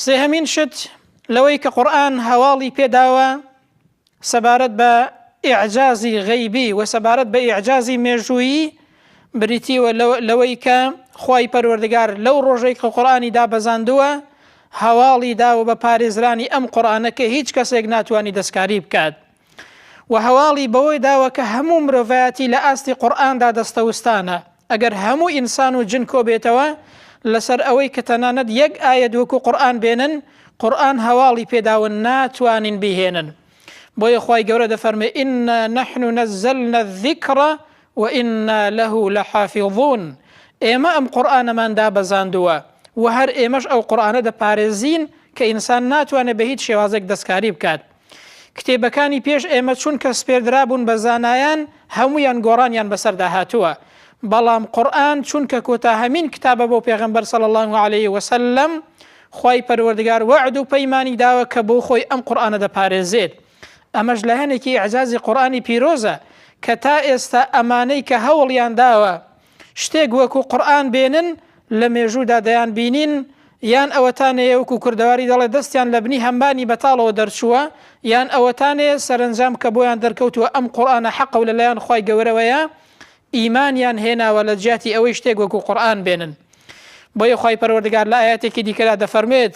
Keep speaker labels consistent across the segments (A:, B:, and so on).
A: سێهەمین شت لەوەی کە قورئان هەواڵی پێداوە سەبارەت بە ئیعجازی غەیبی و سەبارەت بە ئیعجازی مێژوویی بریتیوە لەوەی کە خی پەروەردگار لەو ڕۆژێک کە قورآانی دابەزاندووە هەواڵی داوە بە پارێزرانی ئەم قورآانە کە هیچ کەسێک ناتوانانی دەستکاری بکات و هەواڵی بەوەی داوە کە هەموو مرۆڤایەتی لە ئاستی قورآاندا دەستەوستانە ئەگەر هەموو ئینسان و جن کۆبێتەوە لەسەر ئەوەی کە تەنانەت یەک ئایەت وەکو قورئان بێنن قورئان هەواڵی پێداون ناتوانین بیهێنن بۆیە خوای گەورە دەفەرمێ ئینا نەحن نەزەلنا الذکر وئینا له لحافظون ئێمە ئەم قورئانەمان دابەزاندووە و هەر ئێمەش ئەو قورئانە دەپارێزین کە ئینسان ناتوانێت بە هیچ شێوازێک دەستکاری بکات کتێبەکانی پێش ئێمە چونکە سپێردرابوون بە زانایان هەموویان گۆڕانیان بەسەردا هاتووە بەڵام قورئان چونکە کۆتاهەمین کتابە بۆ پێغەمبەر صلی الله علیه وسلم خوای پەروەردگار وەعد و پەیمانی داوە کە بۆ خۆی ئەم قورئانە دەپارێزێت ئەمەش لایەنێکی ئەعجازی قورئانی پیرۆزە کە تا ئێستا ئەمانەی کە هەوڵیان داوە شتێک وەکو قورئان بێنن لە مێژوودا دەیان بینین یان ئەوەتانەیە وەکو کوردەواری دەڵێ دەستیان لە بنی هەمبانی بەتاڵەوە دەرچووە یان ئەوەتانەیە سەرنجام کە بۆیان دەرکەوتووە ئەم قورآانە حەقە و لەلایەن خی گەورەوەیە ئیمانیان هێناوە لە جیاتی ئەوەی شتێک وەکو قورآان بێنن بۆیە خی پەروەردگار لە ئاەتێکی دیکەدا دەفەرمێت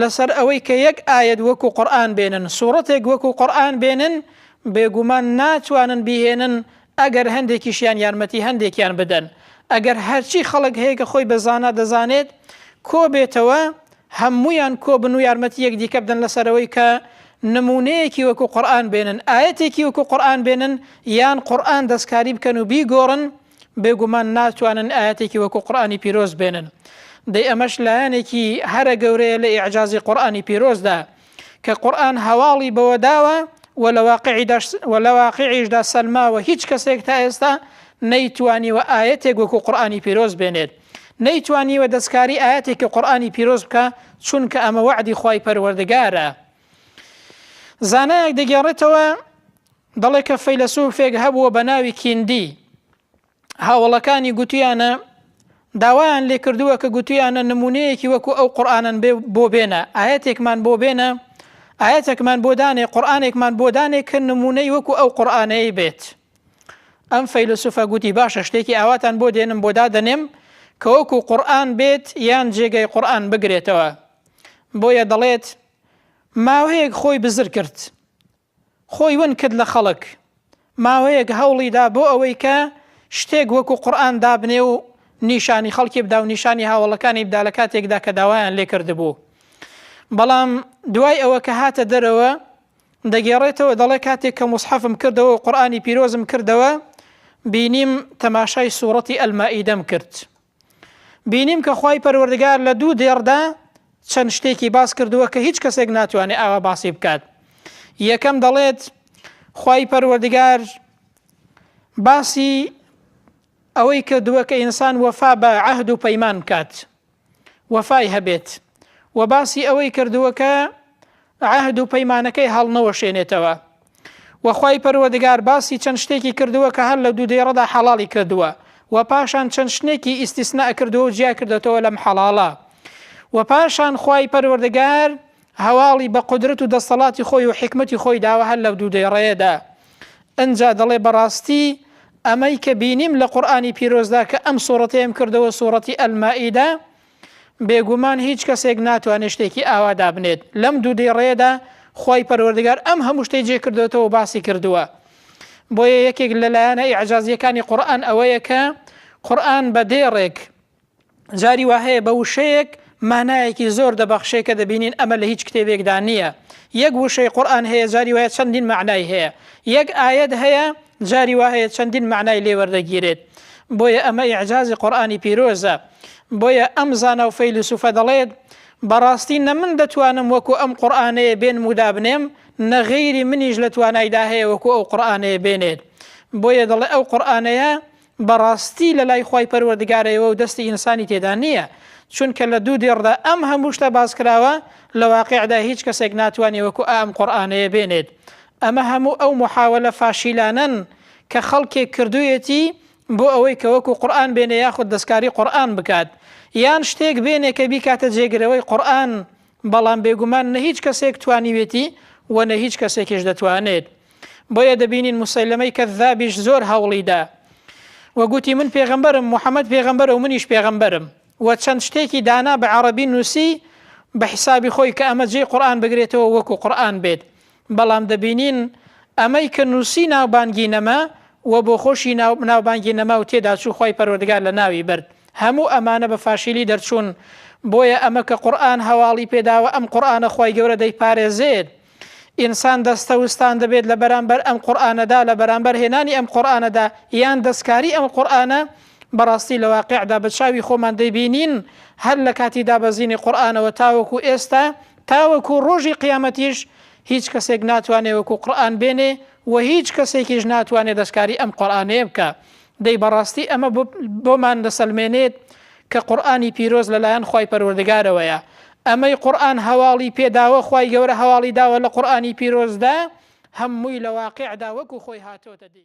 A: لەسەر ئەوەی کە یەک ئایەت وەکو قورئان بێنن، سوڕەتێک وەکو قورئان بێنن، بێگومان ناتوانن بیهێنن ئەگەر هەندێکیشیان یارمەتی هەندێکیان بدەن، ئەگەر هەرچی خەڵک هەیە کە خۆی بە زانا دەزانێت کۆبێتەوە هەموویان کۆبن و یارمەتی یەکدیکە بدەن لەسەرەوەی کە نموونەیەکی وەکو قورئان بێنن، ئایەتێکی وەکو قورئان بێنن، یان قورئان دەستکاری بکەن و بیگۆڕن، بێ گومان ناتوانن ئایەتێکی وەکو قورئانی پیرۆز بێنن دەی ئەمەش لایەنێکی هەرە گەورەیە لە ئیعجازی قورئانی پیرۆزدا کە قورئان هەواڵی بەوە داوە و لە واقعی دەش و لە واقعیشدا سەلماوە هیچ کەسێک تا ئێستا نەیتوانیوە ئاەتێک وەکو قورآانی پیرۆز بێنێت نەیتوانیوە دەستکاری ئاەتێکی قورآانی پیرۆز بکە چونکە ئەمە وعدی خی پەروەردگارە زانایەک دەگێڕێتەوە دەڵێ کە فەیلەسوفێک هەبووە بە ناوی کیندی هاوەڵەکانی گوتویانە داوایان لێ کردووە کە گوتویانە نمونەیەکی وەکو ئەو قورآانن بێ بۆ بێنە ئاەتێکمان بۆ بێنە ئاەتێکمان بۆ دانێ قورآانێکمان بۆ دانێ کە نمونەی وەکو ئەو قورآانەیە بێت ئەم فەیلسوفە گوتی باشە شتێکی ئاواتان بۆ دێنم بۆ دادەنێم کە وەکو قورآن بێت یان جێگەی قورآن بگرێتەوە بۆیە دەڵێت ماوەیەک خۆی بزر کرد خۆی ون کرد لە خەڵک ماوەیەک هەوڵی دا بۆ ئەوەی کە شتێک وەکو قورئان دابنێ و نیشانی خەڵکی بدا و نیشانی هاوەڵەکانی بدا لە کاتێکدا کە داوایان لێ کردبوو بەڵام دوای ئەوە کە هاتە دەرەوە دەگێڕێتەوە دەڵێ کاتێک کە مصحفم کردەوە و قورئانی پیرۆزم کردەوە بینیم تەماشای سوڕەتی ئەلمائیدەم کرد بینیم کە خوای پەروەردگار لە دوو دێڕدا چەند شتێکی باس کردووە کە هیچ کەسێک ناتوانێت ئاوا باسی بکات یەکەم دەڵێت خوای پەروەردگار باسی ئەوەی کردووە کە ئینسان وەفا بە عهد و پەیمان بکات وەفای هەبێت و باسی ئەوەی کردووە کە عەهد و پەیمانەکەی هەڵنەوەشێنێتەوە و خوای پەروەردگار باسی چەند شتێکی کردووە کە هەر لە دوو دێڕەدا حەڵاڵی کردووە و پاشان چەند شتێکی ئیستیسنا کردووە و جیا کردوێتەوە لەم حەڵاڵە و پاشان خوای پەروەردگار هەواڵی بە قدرت و دەستەڵاتی خۆی و حکمەتی خۆی داوە هەر لە دوو دێڕەیەدا ئەجا دەڵێ بەڕاستی ئەمەی کە بینیم لە قورآانی پیرۆزدا کە ئەم سوڕەتەیەم کردەوە سوڕەتی ئەلمائیدا بێگومان هیچ کەسێک ناتوانێت شتێکی ئاوا دابنێت، لەم دوو دێڕەیەدا خوای پەروەردگار ئەم هەموو شتەی جێ کردۆتەوە و باسی کردووە. بۆیە یەکێک لە لایەنە ئیعجازییەکانی قورئان ئەوەیە کە قورئان بە دێڕێک جاری وا هەیە بە وشەیەک مانایەکی زۆر دەبەخشێ کە دەبینین ئەمە لە هیچ کتێبێکدا نییە. یەک وشەی قورئان هەیە جاری وایە چەندین مەعنای هەیە. یەک ئایەت هەیە جاری وا هەیە چەندین مەعنای لێ وەردەگیرێت. بۆیە ئەمە ئیعجازی قورئانی پیرۆزە. بۆیە ئەم زانا و فەیلسوفە دەڵێت، بەڕاستی نە من دەتوانم وەکو ئەم قورئانەیە بێنم و دابنێم، نە غەیری منیش لە توانایدا هەیە وەکو ئەو قورئانەیە بێنێت. بۆیە دەڵێ ئەو قورئانەیە بەڕاستی لە لای خوای پەروەردگارەیەوە و دەستی ئینسانی تێدا نییە، چونکە لە دوو دێڕدا ئەم هەموو شتە باس کراوە، لە واقیعدا هیچ کەسێک ناتوانێ وەکو ئائەم قورئانەیە بێنێت. ئەمە هەموو ئەو موحاوەلە فاشیلانەن کە خەڵکێک کردوویەتی بۆ ئەوەی کە وەکو قورئان بێنێ یاخود دەستکاری قورئان بکات یان شتێک بێنێ کە بیکاتە جێگرەوەی قورئان بەڵام بێگومان نە هیچ کەسێک توانیوێتی و نە هیچ کەسێکیش دەتوانێت بۆیە دەبینین موسەیلەمەی کەذابیش زۆر هەوڵیدا و گوتی من پێغەمبەرم محەممەد پێغەمبەرە و منیش پێغەمبەرم و چەند شتێکی دانا بە عەڕەبی نووسی بە حیسابی خۆی کە ئەمە جێی قورئان بگرێتەوە وەکو قورئان بێت بەڵام دەبینین ئەمەی کە نووسی ناوبانگی نەما و بۆخۆشی ناوبانگی نەما و تێداچوو خوای پەروەردگار لەناوی برد هەموو ئەمانە بە فاشیلی دەرچوون بۆیە ئەمە کە قورئان هەواڵی پێداوە ئەم قورئانە خوای گەورە دەیپارێزێت ئینسان دەستەوستان دەبێت لە بەرامبەر ئەم قورئانەدا لە بەرامبەر هێنانی ئەم قورئانەدا یان دەستکاری ئەم قورئانە بەڕاستی لە واقیعدا بە چاوی خۆمان دەیبینین هەر لە کاتی دابەزینی قورئانەوە تاوەکو ئێستا تاوەکو ڕۆژی قیامەتیش هیچ کەسێک ناتوانێ وەکو قورئان بێنێ و هیچ کەسێکیش ناتوانێ دەستکاری ئەم قورئانەیە بکا، دەی بەڕاستی ئەمە بۆمان دەسەلمێنێت کە قورئانی پیرۆز لەلایەن خوای پەروەردگارەوەیە، ئەمەی قورئان هەواڵی پێداوە خوای گەورە هەواڵی داوە لە قورئانی پیرۆزدا هەمووی لە واقیعدا وەکو خۆی هاتۆتە دی.